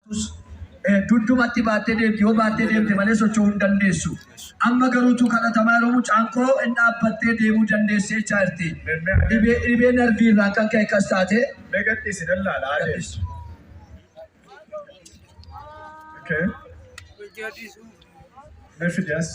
Taatus, dugdumatti baattee deemti, yoo baattee deemte malee socho'uu hin dandeessu. Amma garuu utuu kadhatamaa yeroo mucaan koo in dhaabbattee deemuu dandeessi jechaa jirti. Dhibee, dhibee narvii irraan kan ka'e akkas taate. Mee gadhiisi nan laala haa deemtu. Okay. Mee fidi as.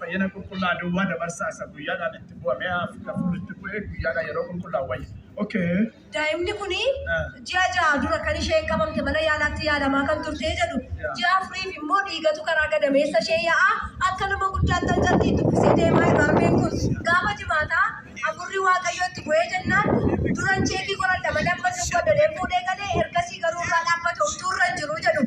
Fayyina qulqullaa duwwaa dabarsaa isa guyyaadhaan itti bu'a mi'a afur itti bu'e guyyaadhaan yeroo qulqullaa wayya. Okay. Daa'imni kun ji'a ja'a dura kan isheen qabamte mana yaalaatti yaalamaa kan turtee jedhu ji'a afuriif immoo dhiigatu karaa gadameessa ishee yaa'aa akka nama guddaatti hancartii itti uffisee deemaa irra harmeen kun gaafa jimaataa afurri waaqayyoo itti bu'ee jennaan duran cheekii qoradha madamman nu godhadhee fuudhee galee ergasii garuu irraa dhaabbata homtuu irra hin jiru jedhu.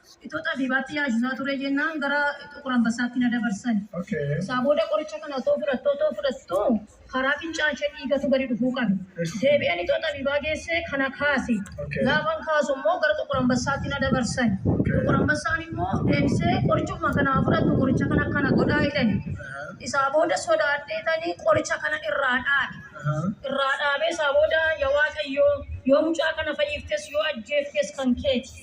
Itoo xabiibaatti yaasisaa turee jennaan gara Xuqur Anbassaatti na dabarsan. Isaa booda qoricha kana otoo fudhattuu otoo fudhattuu karaa fincaan ishee dhiigatu gadi dhufuu qabe. Deebi'een itoo xabiibaa geessee kana kaase. Gaafan kaasu immoo gara Xuqur Anbassaatti na dabarsan. Xuqur Anbassaan immoo deebisee qorichuma kana haa fudhattu qoricha kana akkana godhaa jedhani. Isaa booda sodaadheetani qoricha kanan irraa dhaabe. Irraa dhaabee isaa booda ya Waaqayyoo yoo mucaa kana fayyiftes yoo ajjeeftes kan keeti.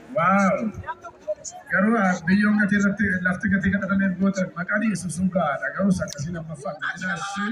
Wow! Garuu biyyoon gatii irratti lafti gatii kadhatameef goote maqaa dhiyeessu sun gahaadha. Garuu sakkasiin lammaffaa miidhina ishee